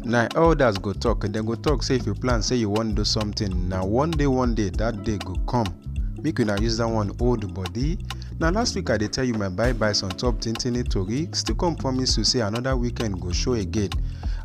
na elders go talk dem go talk say if you plan say you wan do something na one day one day that day go come make una use that one hold body na last week i dey tell you my bye byes on top tintini tori still come promise you say another weekend go show again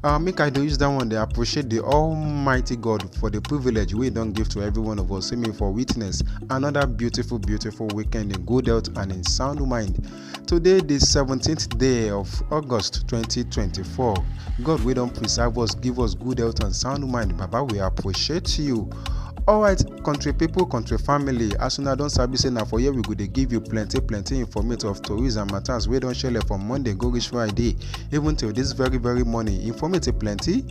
uh, make i dey use that one dey appreciate the almighty god for the privilege wey e don give to every one of us say me for witness another beautiful beautiful weekend in good health and in sound mind Today, the 17th day of August 2024. God, we don't preserve us, give us good health and sound mind. Baba, we appreciate you. alright country people, country family as una don sabi say na for here we go dey give you plenty plenty informative of tourists and matters wey don shele from monday go reach friday even till this very very morning informative plenty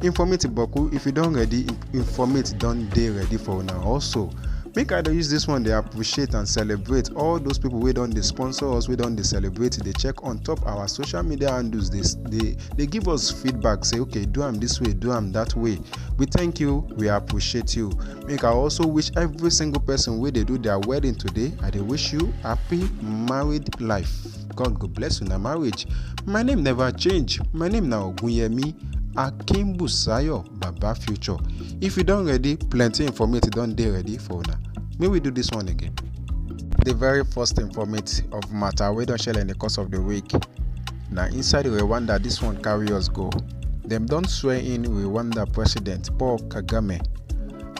informative boku if you don ready informate don dey ready for una also make i dey use this one dey appreciate and celebrate all those people wey don dey sponsor us wey don dey celebrate dey check on top our social media handles dey dey dey give us feedback say okay do am this way do am that way we thank you we appreciate you make i also wish every single person wey dey do their wedding today i dey wish you happy married life god go bless una marriage my name never change my name na ogunyemi akimbusayo baba future if you don ready plenty informate don dey ready for una make we do this one again the very first informate of matter wey don shele in the course of the week na inside rwanda this one carry us go dem don swear in rwanda president paul kagame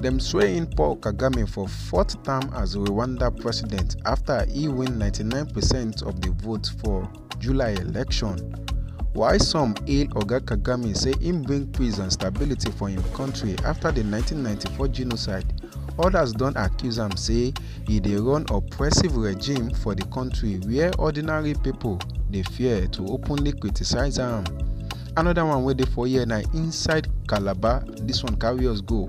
dem swear in paul kagame for fourth term as rwanda president after e win 99 percent of the vote for july election while some hail oga kagame say im bring peace and stability for im kontri afta di 1994 genocide odas don accuse am say e dey run oppressive regime for di kontri wia ordinary pipo dey fear to openly criticise am. Another one wey dey for here na inside calabar This one carry us go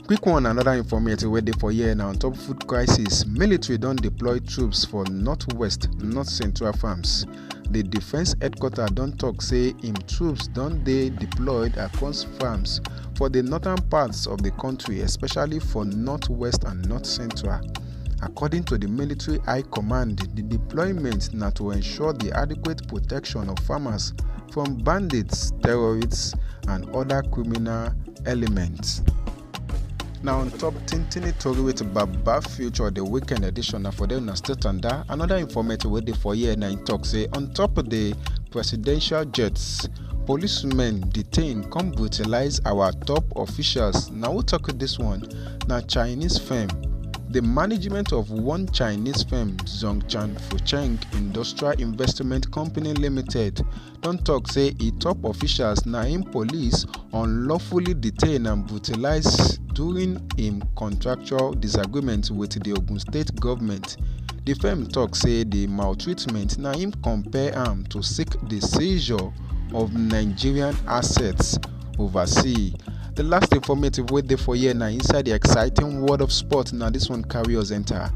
Quick one another informative wey dey for here na on top food crisis, military don deploy troops for northwest, north central farms. The defence headquarter don tok say im troops don dey deployed across farms for the northern parts of the country, especially for northwest and north central. According to the military high command, the deployment na to ensure the adequate protection of farmers from bandits, terrorists, and other criminal elements. Now on top Tintini Tori with Baba Future the weekend edition na for the una state and that another informative wey dey for here na im talk say on top of the presidential jets policemen detain come brutalize our top officials na who talk this one na Chinese firm. The management of one Chinese firm, Zhongchan Fucheng Industrial Investment Company Limited, don tok say e top officials na im police unlawfully detain and brutalize during im contractual disagreement wit di Ogun State government. Di firm tok say di maltreatment na im compel am to seek di seizure of Nigerian assets overseas. the last informative wey dey for here na inside the exciting world of sport na this one carry us enter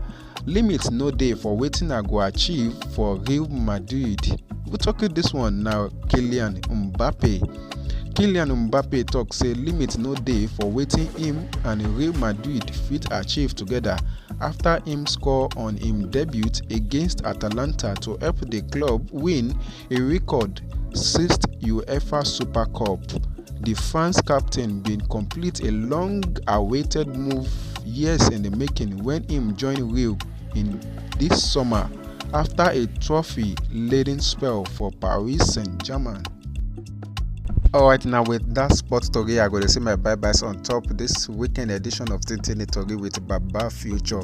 limit no dey for wetin i go achieve for real madrid we talk you this one na kylian mbappe kylian mbappe talk say limit no dey for wetin him and real madrid fit achieve together after him score on him debut against atalanta to help the club win e record sixth uefa super cup di france captain bin complete a long-awaited move years in di making wen im join real in dis summer afta a trophy-laden spell for paris saint-germain. Alright, now with that sports story, I go to see my bye byes on top this weekend edition of Tintini Tori with Baba Future.